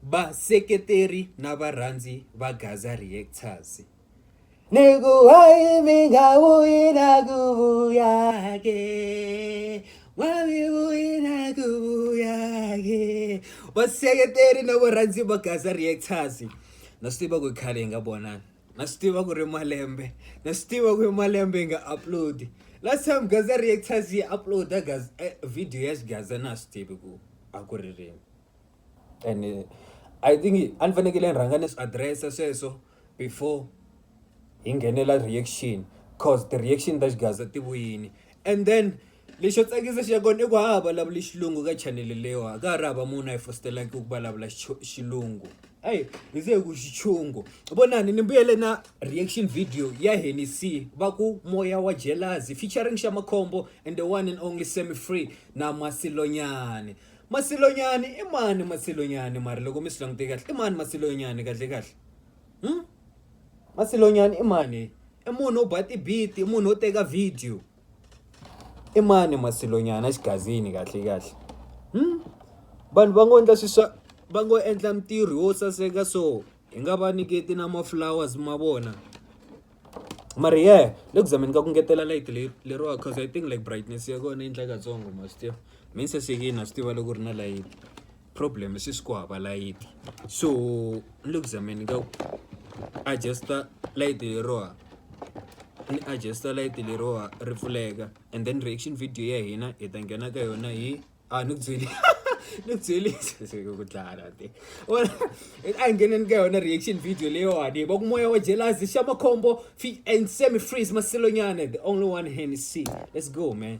Vaseketeri na varhandzi va Gaza Reactors. Ni ku hayi mi nga vuyi na ku vuya ke wa mi vuyi na ku vuya ke vaseketeri na varhandzi va Gaza Reactors na swi tiva ku khale hi nga vonani na swi tiva ku ri malembe na swi tiva ku ri malembe hi nga upload last time Gaza Reactors yi uploada eh, video ya Gaza na swi tivi ku a ku ri rini and I think a ni fanekele ni rhanga ni swi address-a sweswo before hi nghenela reaction coz ti-reaction ta xigaza ti vuyini and then lexo tsakisa xa kona i ku a ha ha vulavuli xilungu ka chanele leyiwa a ka ha ri hava munhu a yi fositaleki ku vulavula xilungu eyi hi ze hi ku xichungo vonani ni mbuyele na reaction video ya hennessy va ku moya wa jealousy featuring xa makhombo and the one and only semi free na masilonyane masilonyani i mani masilonyani mara loko mi swi langute kahle i mani masilonyani kahle kahle hmm? masilonyani i mani i munhu wo ba tibiti i munhu wo teka video i mani masilonyana xigazini kahle kahle hmm? vanhu va ngo endla swi swa va ngo endla mitirho wo saseka so hi nga va nyiketi na ma-flowers ma vona mara yeah le ku zameni ka ku ngetela light leyi leriwa cause i think like brightness ya kona yi endla katsongo ma swi tiva mean sasekini a swi tiva loko ri na light problem se swi ku hava light so ni le ku zameni ka ku adjusta light leriwa ni adjusta light leriwa ri pfuleka and then reaction video ya hina hi ta nghena ka yona hi a ni ku byeli ni ku byeli se ku dlala te a hi ngheneni ka yona reaction video leyiwani va ku moya wa jelasi xa makhombo and semi freeze masilonyana the only one hand is see let's go man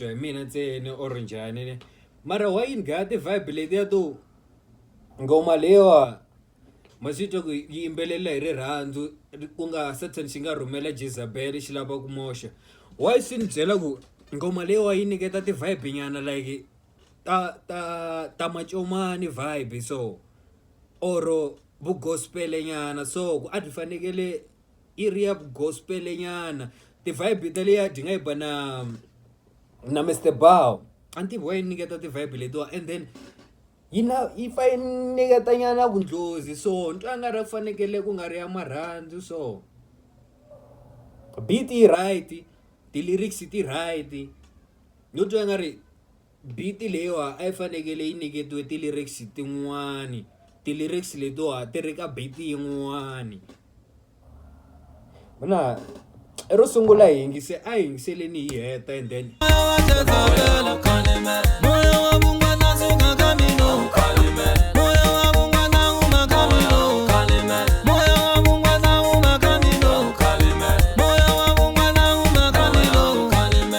titwa hi mina ntsena or njhani ne mara wa yini gaya ti-vibe letiya to ngoma leyiwa ma swi twa ku yi yimbelela hi rirhandzu ku nga satan xi nga rhumela jezabel xi lava ku moxa wa swi ni byela ku ngoma leyiwa yi nyiketa ti-vibe nyana like ta ta ta macomani vibe so or vugospel nyana so ku a byi fanekele i ri ya vugospel nyana ti vibe ta leya dyi nga yi ba na na Mr Bow a ni tivi wa yi nyiketa ti vibe letiwa and then yi na yi fa yi nyiketa nyana vundlozi so ni twa nga ri ku fanekele ku nga ri ya marhandzu so beat yi right ti lyrics ti right. no twa nga ri beat leyiwa a yi fanekele yi nyiketiwe ti-lyrics tin'wani ti-lyrics letiwa ti ri ka beat yin'wani mina i ro sungula hi yingise a hi yingiseleni hi heta and then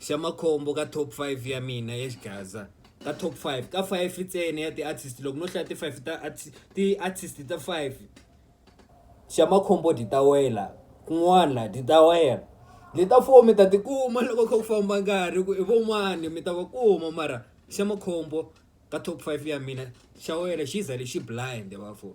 xa makhombo ka top five ya mina ya xigaza ka top five ka five ntsena ya ti-artist loko no hlaya ti-five ta ti-artist ta five xa makhombo dyi ta wela kun'wana dyi ta wela dyi ta four mi ta tikuma loko kha ku famba nkarhi ku i von'wani mi ta va kuma mara xa makhombo ka top five ya mina xa wena xi za lexi blind bafo.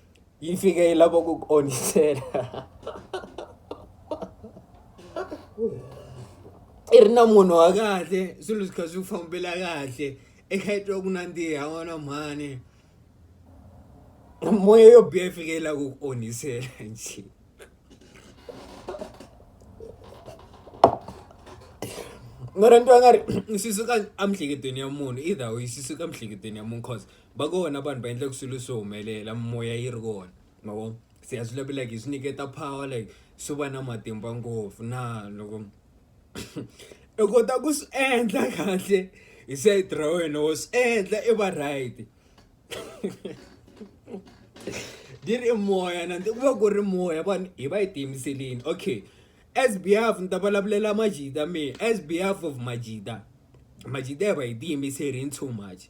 yi fika yi lava ku ku onhisela i ri na munhu wa kahle swilo swi kha swi fambela kahle i kha i twa ku nandziha n'wana mhani moya yo biha yi fika yi lava ku ku onhisela njhe mara ni twa nga ri swi suka emihleketweni ya munhu either way swi suka emihleketweni ya munhu cause. va kona vanhu va endlaka swilo swi humelela mimoya yi ri kona ma vo se a swi lavi like hi swi nyiketa power like swi va na matimba ngopfu na loko i kota ku swi endla kahle hi side ra wena wo swi endla i va right di ri i moya na ku va ku ri moya vanhu hi va yi tiyimiselini okay as behalf ni ta vulavulela majita me as behalf of majita majita hi va hi tiyimiseli in too much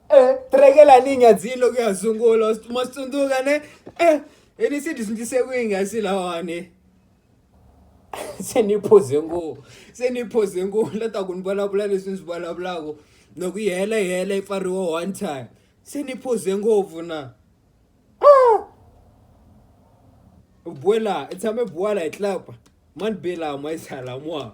eh, trekela ni nyadzini loko ya sungula ma swi tsundzuka ne eh, hi ni se dyondzise ku yi nga si lawani se ni phoze ngo se ni phoze ngo la ta ku ni vulavula leswi ni swi vulavulaka loko yi hela yi hela yi pfariwa one time se ni phoze ngopfu na ah! buela i tshame buala hi tlapa mani bela ma yi tshala mwa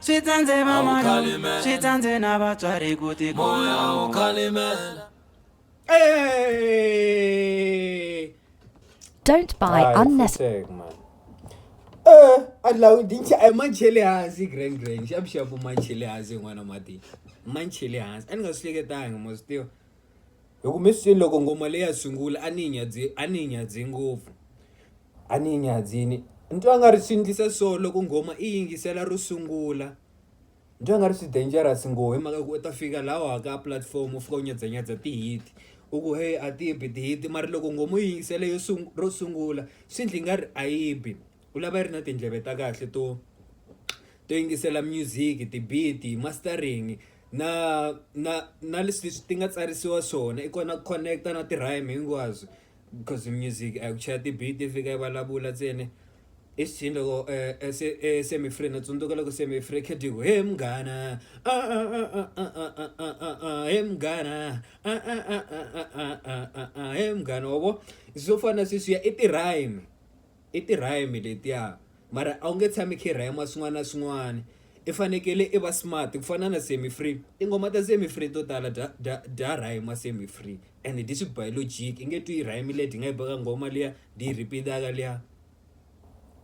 Swi tsandze A wu vamanana, khalimela. swi tsandze na vatswari ku ti moya wu khalimela Don't buy Hayi, unnecessary. futsek, man. Eh, a lawu dincha a manchele hansi grand grand xa bixapu manchele hansi n'wana mati manchele hansi a ni nga swi hleketangi ma swi tiva hi ku mi swi loko ngoma leyi ya sungula a ni yi nyadze a ni yi nyadze ngopfu a ni yi nyadzini ni twa nga ri swi endlisa so loko nghoma i yingisela ro sungula ni twa nga ri swi dangerous ngo hi mhaka ku u ta fika laha wa ka platform u fika u nyadzanyadza ti-hit u ku heyi a ti bi ti-hit mara loko nghoma u yi yingisela yo ro sungula swi endla i nga ri a yi bi. u lava yi ri na tindleve ta kahle to to yingisela music ti-beat mastering na na na leswi ti nga tsarisiwa swona i kona ku connect-a na ti-rhyme hinkwaswo cause music a ku chaya ti-beat yi fika yi vulavula ntsena i swi loko se se mi free na tsundzuka loko se mi free Khedigo he munghana he munghana he munghana wa vo swo fana sweswiya i ti-rhyme. I ti-rhyme letiya mara a wu nge tshami i kha i rhayima swin'wana na swin'wana i fanekele i va smart ku fana na Sammy Free tinghoma ta Sammy Free to tala bya bya bya rhayima Sammy Free and dyi swi ba hi logic i nge twi yi rhayimile dyi nga yi baka nghoma liya dyi yi repeat-aka liya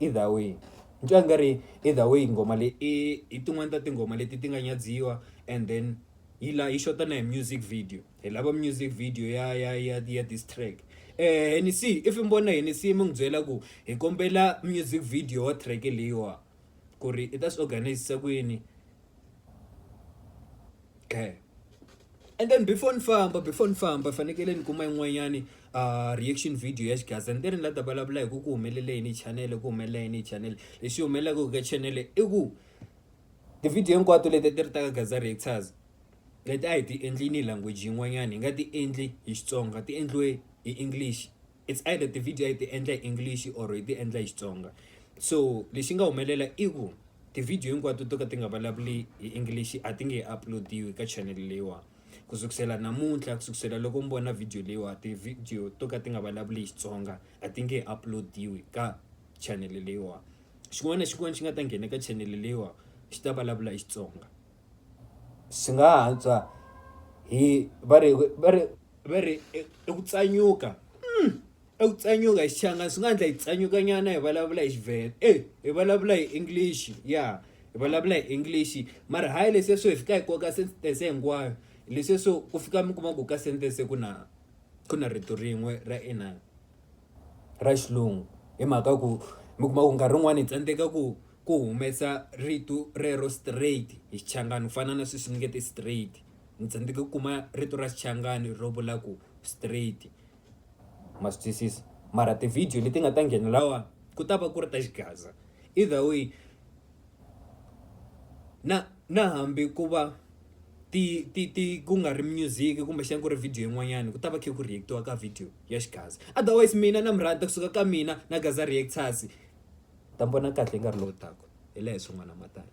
either way ni twa nga ri either way nghoma leyi i i tin'wani ta tinghoma leti ti nga nyadziwa and then yi la yi xota na hi music video. hi lava music video ya ya ya ya this track eh henisi if mi vona henisi mi n'wi byela ku hi kombela music video wa track leyiwa ku ri i ta swi organizisa ku yini okay and then before ni famba before ni famba fanekele ni kuma yin'wanyani uh, reaction video ya xigaza ni te ni la ta vulavula hi ku ku humelela yini chanele ku humelela yini chanele lexi humelelaka ka chanele i ku ti-video hinkwato leti ti ri ta ka gaza reactors leti a hi ti endli ni language yin'wanyani hi nga ti endli hi Xitsonga ti endliwe hi English it's either ti-video a hi ti endla hi English or hi ti endla hi Xitsonga so lexi nga humelela i ku ti-video hinkwato to ka ti nga vulavuli hi English a ti nge he upload-iwi ka channel leyiwa ku sukusela namuntlha ku sukusela loko mi vona video leyiwa ti-video to ka ti nga vulavuli hi Xitsonga a ti nge he upload-iwi ka channel leyiwa xin'wana na xin'wana xi nga ta nghena ka channel leyiwa xi ta vulavula hi Xitsonga. swi nga ha antswa hi va ri va ri va ri i ku tsanyuka i ku tsanyuka hi Xichangani swi nga endla hi tsanyuka nyana hi vulavula hi Xivhenda e hi vulavula hi English ya hi vulavula hi English mara hayi leswi swo hi fika hi koka sentence hinkwayo leswi swo ku fika mi kuma ku ka sentence ku na ku na rito rin'we ra inani. ra xilungu hi mhaka ku mi kuma ku nkarhi wun'wani hi tsandzeka ku ku humesa rito rero straight hi Xichangani ku fana na sweswi ni nge ti straight ni tsandzeka ku kuma rito ra Xichangani ro vula ku straight ma swi twisisa mara ti-video leti nga ta nghena lahawani ku ta va ku ri ta xigaza either way na na hambi ku va ti ti ti ku nga ri music kumbexana ku ri video yin'wanyani ku ta va kha ku react-iwa ka video ya xigaza otherwise mina na mi rhandza kusuka ka mina na Gaza Reactors ta mi vona kahle nkarhi lowu taka hi laha hi swin'wana matano.